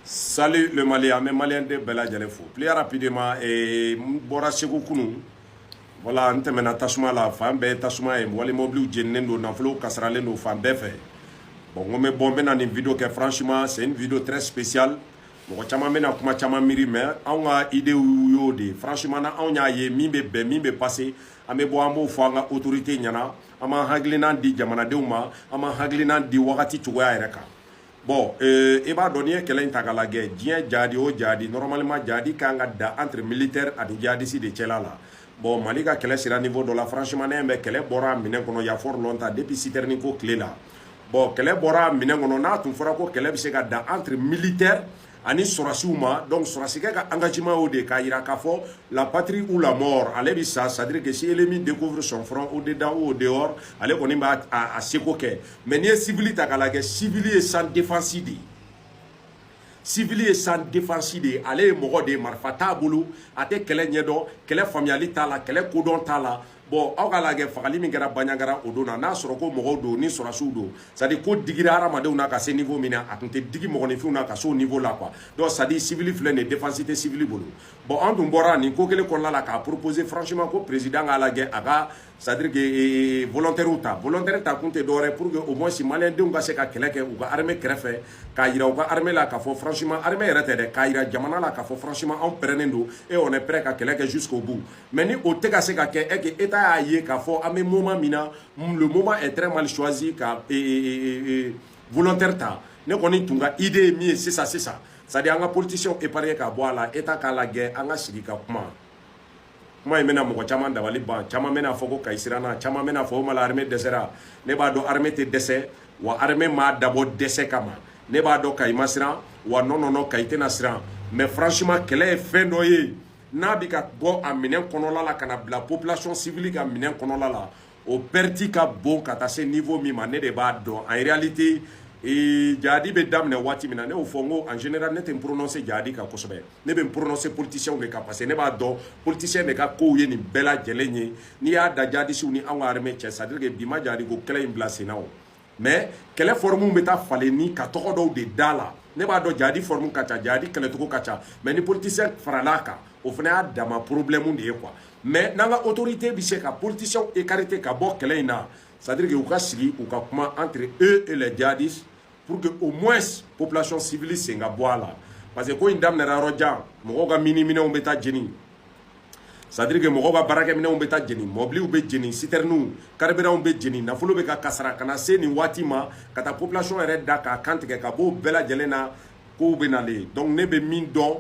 Salut le Mali, an bɛ Malien de bɛɛ lajɛlen fo. Plus rapidement, eh, n bɔra Segu kunu. Voilà, n tɛmɛna tasuma la, fan bɛɛ tasuma ye. Wali mobiliw jeninen don, nafolow kasaralen don fan bɛɛ fɛ. Bon, n ko n bɛ bɔ, n bɛ na nin video kɛ. Franchement, c'est une video très spéciale. Mɔgɔ caman bɛ na kuma caman miiri, mais anw ka idée y'o de ye. Franchement, n'anw y'a ye min bɛ bɛn, min bɛ passer, an bɛ bɔ, an b'o fɔ an ka autorité ɲɛna. An b'an hakilinan di jamanadenw ma, an b'an hakilinan di wagati cogoya yɛrɛ kan. bɔn euh, i b'a dɔn n'i ye kɛlɛ in ta k'a lajɛ diɲɛ jadi o jadi normalement jadi kan ka dan entre militaire ani jadisi de cɛla la bɔn mali ka kɛlɛ sera niveau dɔ la franchement ne bɛ kɛlɛ bɔra a minɛn kɔnɔ y a fort longtemps depuis sitɛrini ko tile la bɔn kɛlɛ bɔra a minɛn kɔnɔ n'a tun fɔra ko kɛlɛ bɛ se ka dan entre militaire ani sɔrɔsiw ma donc sɔrɔsikɛ ka engagement y'o de ye k'a jira k'a fɔ la patrie ou la mort ale bɛ sa c'est à dire que si l'ennemi découvre son front au dedans ou au dehors ale kɔni b'a a, a seko kɛ mais n'i ye civili ta k'a lajɛ civili ye sans défense de ye civili ye sans défense de ye ale ye mɔgɔ de ye marifa t'a bolo a tɛ kɛlɛ ɲɛdɔn kɛlɛ faamuyali t'a la kɛlɛ kodɔn t'a la bɔn aw k'a lajɛ fagali min kɛra baɲagara o don na n'a sɔrɔ ko mɔgɔw don ni sɔrɔsiw don c'est-à-dire ko digira hadamadenw na ka se niveau min na a tun tɛ digi mɔgɔninfinw na ka se o niveau la quoi donc c'est-à-dire sivili filɛ nin défense tɛ sivili bolo bɔn an tun bɔra nin ko kelen kɔnɔna la k'a proposer franchement ko président k'a lajɛ a ka c'est-à-dire que eh, eh, volontaires ta volontaire ta kun tɛ dɔwɛrɛ pour que au moins maliyɛndenw ka se ka kɛlɛ kɛ u ka armée kɛrɛfɛ k'a jira u ka armée la k'a fɔ franchement armée yɛrɛ tɛ dɛ k'a jira jamana la k'a fɔ franchement anw pɛrɛnnen don et on est prêt ka kɛlɛ kɛ jusqu'au bout mais ni o tɛ ka se ka kɛ et état y'a ye k'a fɔ an bɛ moment min na le moment est très mal choisi ka volontaire ta ne kɔni tun ka idée ye min ye sisan sisan sa an ka politicien épargner k'a bɔ a la état k'a lajɛ an ka sigi ka kuma kuma in bɛna mɔgɔ caman dabali ban caman bɛna fɔ ko kayi siranna caman bɛna fɔ o ma armée dɛsɛra ne b'a dɔn armée tɛ dɛsɛ wa armée ma dabɔ dɛsɛ kama ne b'a dɔn kayi ma siran wa non non kayi tɛna siran mais franchement kɛlɛ ye fɛn dɔ ye n'a bɛ ka bɔ a minɛn kɔnɔla la ka na bila population civile ka minɛn kɔnɔla la o perte ka bon ka taa se niveau min ma ne de b'a dɔn en réalité ee jadi bɛ daminɛ waati min na ne y'o fɔ n ko en général ne tɛ n prononcer jadi kan kosɛbɛ ne bɛ n prononcer politiciens de kan parce que ne b'a dɔn politiciens de ka kow ye nin bɛɛ lajɛlen ye n'i y'a da jadisiw ni anw ka armée cɛ c'est à dire que bi ma jadi ko kɛlɛ in bila senna o mais kɛlɛ fɔrɔmu bɛ taa falen ni ka tɔgɔ dɔw de da la ne b'a dɔn jadi fɔrɔmu ka ca jadi kɛlɛcogo ka ca mais ni politicien farala a kan o fana y'a dama problème de ye quoi mais n'an ka autorité bɛ se ka politicienw écarter ka bɔ kɛlɛ in na c'est à dire que u ka sigi u ka kuma entre eux et les jadis pour que au moins population civile sen ka bɔ a la parce que ko in daminɛra yɔrɔ jan mɔgɔw ka miniminɛnw bɛ taa jeni c'est à dire que mɔgɔw ka baarakɛminɛnw bɛ taa jeni mɔbiliw bɛ jeni sitɛriniw karibiranw bɛ jeni nafolo bɛ ka kasara ka na se nin waati ma ka taa population yɛrɛ da k'a kantigɛ ka b'o bɛɛ lajɛlen na kow bɛ nalen donc ne bɛ min dɔn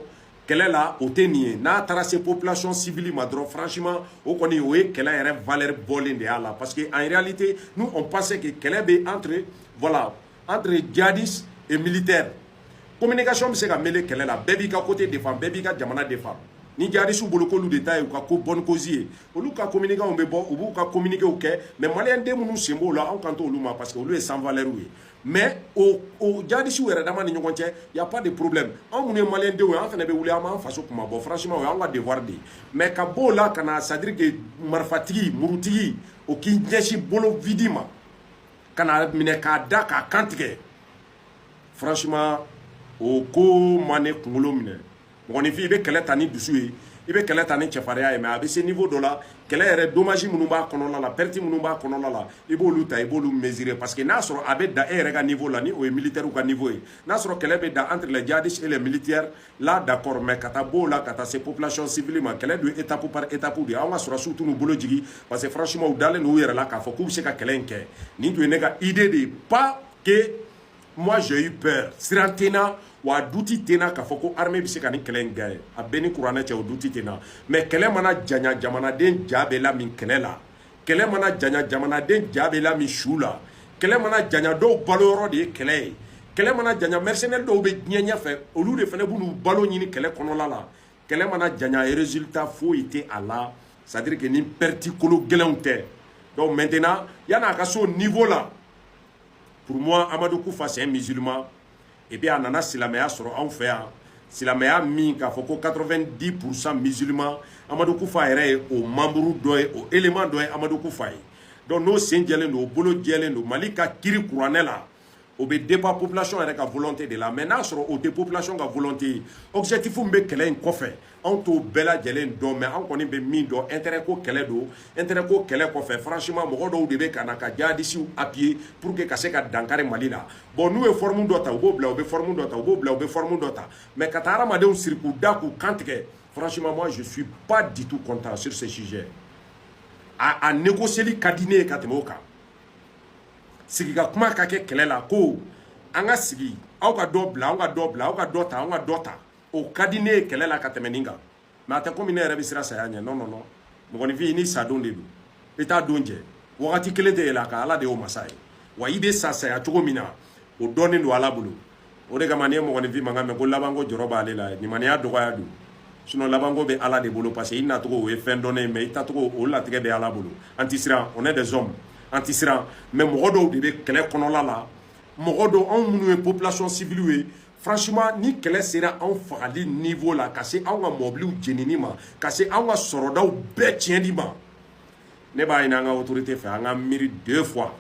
kɛlɛ la o tɛ nin ye n'a taara se population civile ma dɔrɔn franchement o kɔni o ye kɛlɛ yɛrɛ valeur bɔlen de y'a la parce que en réalité nous on pensait que kɛlɛ bɛ entre voilà entre djihadistes et militaires communication bɛ se ka mêler kɛlɛ la bɛɛ b'i ka côté défend bɛɛ b'i ka jamana défend ni djihadistes bolo k'olu de ta ye u ka ko bonne cause ye olu ka communicants bɛ bɔ u b'u ka communiquéw kɛ mais maliyɛn den minnu sen b'o la anw kan t'olu ma parce que olu ye sans valeur ye mais o o djihadistes yɛrɛ dama ni ɲɔgɔn cɛ y a pas de problème anw minnu ye maliyɛn denw ye an fana bɛ wuli an b'an faso kuma bɔ franchement o y'an ka devoir de ye mais ka b'o la ka na c'est à dire que marifatigi murutigi o k'i ɲɛsin bolo vide ma ka n'a minɛ k'a da k'a kan tigɛ franchement o ko ma ne kunkolo minɛ mɔgɔninfin i bɛ kɛlɛ ta ni dusu ye i bɛ kɛlɛ ta ni cɛfarinya ye mais a bɛ se niveau dɔ la kɛlɛ yɛrɛ dommage minnu b'a kɔnɔna la perte minnu b'a kɔnɔna la i b'olu ta i b'olu mesurer parce que n'a sɔrɔ a bɛ dan e yɛrɛ ka niveau la ni o ye militaire ka niveau ye n'a sɔrɔ kɛlɛ bɛ dan entre les djihadistes et les militaires là d'accord mais ka taa b'o la ka taa se population civile ma kɛlɛ don étape par étape de an ka sɔrɔsiw tɛn'u bolo jigin parce que franchement u dalen don u yɛrɛ la k'a fɔ k'u bɛ se ka kɛlɛ in kɛ nin tun ye ne ka idée de ye pas que moi j'ai eu peur siran tɛ n na wa a doute tɛ n na k'a fɔ ko armée bɛ se ka nin kɛlɛ in gagner a bɛ n ni kuranɛ cɛ o doute tɛ n na mais kɛlɛ mana janya jamanaden ja bɛ lamin kɛlɛ la kɛlɛ mana janya jamanaden ja bɛ lamin su la kɛlɛ mana janya dɔw balo yɔrɔ de ye kɛlɛ ye kɛlɛ mana janya mercenaires dɔw bɛ diɲɛ ɲɛfɛ olu de fana bɛn'u balo ɲini kɛlɛ kɔnɔla la kɛlɛ mana janya résultat foyi tɛ a la c'est à dire que ni perte kolo gɛlɛnw tɛ donc maintenant yan'a ka s'o niveau la pour moi Amadou Koufa c'est un musulman et puis a nana silamɛya sɔrɔ anw fɛ yan silamɛya min k'a fɔ ko 90 pourcent musulman Amadou Koufa yɛrɛ ye o membre dɔ ye o élément dɔ ye Amadou Koufa ye donc n'o sen jɛlen don o bolo jɛlen don mali ka kiri kuranɛ la o bɛ dépend population yɛrɛ ka volonté de la mais n'a sɔrɔ o tɛ population ka volonté ye objectif min bɛ kɛlɛ in kɔfɛ anw t'o bɛɛ lajɛlen dɔn mais an kɔni bɛ min dɔn intérêt ko kɛlɛ don intérêt ko kɛlɛ kɔfɛ franchement mɔgɔ dɔw de bɛ ka na ka jihadisiw appuyer pour que ka se ka dankari mali la bon n'u ye forme dɔ ta u b'o bila u bɛ forme dɔ ta u b'o bila u bɛ forme dɔ ta mais ka taa hadamadenw siri k'u da k'u kan tigɛ franchement moi je suis pas du tout content sur ce sujet a a négocier ka di ne ye ka tɛmɛ o kan sigi ka kuma ka kɛ kɛlɛ la ko an ka sigi aw ka dɔ bila aw ka dɔ bila aw ka dɔ ta aw ka dɔ ta o ka di ne ye kɛlɛ la ka tɛmɛ nin kan mais a tɛ komi ne yɛrɛ bɛ siran saya ɲɛ non non non mɔgɔninfin i ni sadon de don i t'a don jɛ wagati kelen tɛ yɛlɛ a kan ala de y'o masa ye wa i bɛ sa saya cogo min na o dɔnnen don ala bolo o de kama n'i ye mɔgɔninfin mankan mɛn ko labanko jɔrɔ b'ale la limaniya dɔgɔya don sinon labanko bɛ ala de bolo parce que i nacogo o ye fɛn dɔnnen ye mais i tacogo o latigɛ bɛ ala bolo an tɛ siran on est des hommes an tɛ siran mais mɔgɔ dɔw de bɛ kɛlɛ kɔnɔla la mɔgɔ dɔw anw minnu ye population civile ye franchement ni kɛlɛ sera anw fagali niveau la ka se anw ka mɔbiliw jenini ma ka se anw ka sɔrɔdaw bɛɛ tiɲɛni ma ne b'a ɲini an ka autorité fɛ an ka miiri deux fois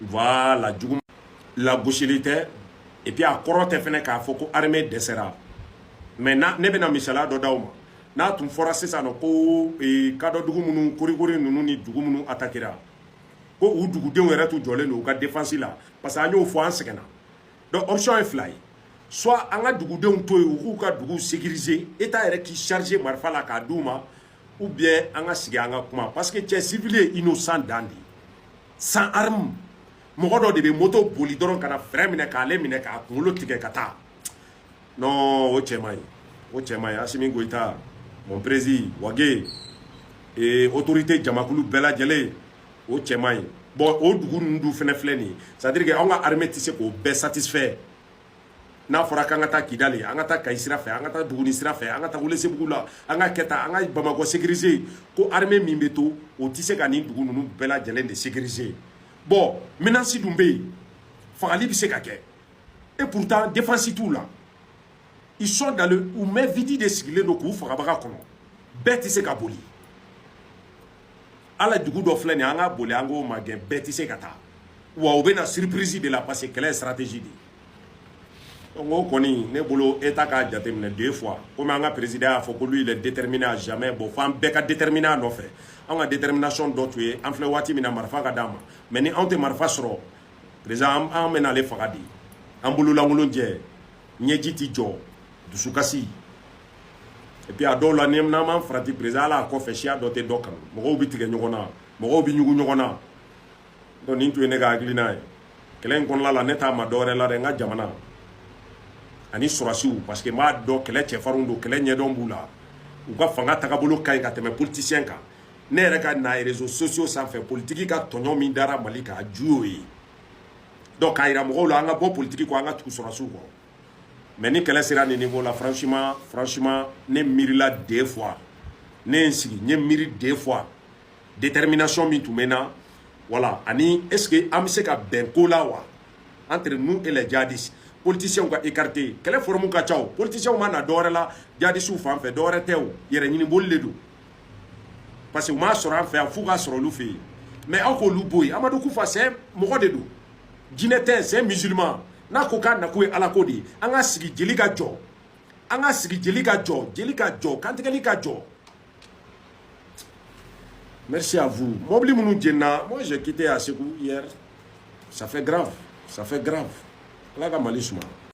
voilà jugu lagosili tɛ et puis a kɔrɔ tɛ fɛnɛ k'a fɔ ko armée dɛsɛra mais ne bɛna misaliya dɔ d'aw ma n'a tun fɔra sisan nɔ ko eh, kadɔ dugu minnu korikori ninnu ni dugu minnu atakira ko u dugudenw yɛrɛ tun jɔlen don u ka défense la parce que an y'o fɔ an sɛgɛnna donc option ye fila ye soit an ka dugudenw to yen u k'u ka duguw sécuriser état yɛrɛ k'i charger marifa la k'a d'u ma ou bien an ka sigi an ka kuma parce que cɛ civil ye innocent dan de ye sans arme mɔgɔ dɔ de bɛ moto boli dɔrɔn ka na frein minɛ k'ale minɛ k'a kunkolo tigɛ ka taa non o cɛ man ɲi o cɛ man ɲi asimi goyita mon prési wage ee autorité jamakulu bɛɛ lajɛlen o cɛ man ɲi bon o dugu ninnu dun fɛnɛ filɛ nin ye c'est à dire que anw ka armée tɛ se k'o bɛɛ satisfaire n'a fɔra k'an ka taa kidali an ka taa kayi sira fɛ an ka taa buguni sira fɛ an ka taa welesebugu la an ka kɛ tan an ka bamakɔ sécuriser ko armée min bɛ to o tɛ se ka nin dugu ninnu bɛɛ lajɛlen de sécuriser bon menasi dun bɛ yen fagali bɛ se ka kɛ et pourtant défense t'u la ils sont dans le u main vide de sigilen don k'u fagabaga kɔnɔ bɛɛ tɛ se ka boli ala dugu dɔ filɛ nin an ka boli an k'o magɛn bɛɛ tɛ se ka taa wa u bɛ na surprise de la parce que kɛlɛ ye stratégie de ye donc o kɔni ne bolo état k'a jateminɛ deux fois komi an ka président y'a fɔ ko lui il est déterminé à jamais bon f'an bɛɛ ka déterminer a nɔfɛ an ka détermination dɔ tun ye an filɛ waati min na marifa ka d'an ma mais ni anw tɛ marifa sɔrɔ président an bɛ n'ale faga de an bololankolon jɛ ɲɛji tɛ jɔ dusukasi et puis a dɔw la n'an m'an farati président ala a kɔfɛ siya dɔ tɛ dɔ kanu mɔgɔw bɛ tigɛ ɲɔgɔn na mɔgɔw bɛ ɲugun ɲɔgɔn na donc nin tun ye ne ka hakilina ye kɛlɛ in kɔnɔna la ne t'a ma dɔwɛrɛ la dɛ n ka jamana ani sɔrɔsiw parce que n b'a dɔn kɛlɛ cɛfarinw don kɛlɛ ɲɛdɔn b'u la u ka fanga tagabolo ka ɲi ka tɛmɛ politicien kan ne yɛrɛ ka na réseaux sociaux sanfɛ politiki ka tɔɲɔ min dara mali kan a ju y'o ye donc k'a yira mɔgɔw la an ka bɔ politiki kɔ an ka tugu sɔrɔdasiw kɔ mais ni kɛlɛ sera nin niveau la franchement franchement ne miirila deux fois ne ye n sigi n ye miiri deux fois détermination min tun bɛ n na voilà ani est ce que an bɛ se ka bɛn ko la wa entre nous et les djihadistes politiciens ka écarté kɛlɛ forme ka ca o politiciens ma na dɔwɛrɛ la jadisiw fan fɛ dɔwɛrɛ tɛ o yɛrɛ ɲini boli de don parce que u m'a sɔrɔ an fɛ yan f'u ka sɔrɔ olu fɛ yen mais aw k'olu bɔ yen amadu kufa c'est mɔgɔ de don jinɛ tɛ c'est musulman n'a ko k'a nako ye ala ko de ye an ka sigi jeli ka jɔ an ka sigi jeli ka jɔ jeli ka jɔ kantigɛli ka jɔ merci à vous mɔbili minnu jenna moi j'ai quitté à Ségou hier ça fait grave ça fait grave ala ka mali suma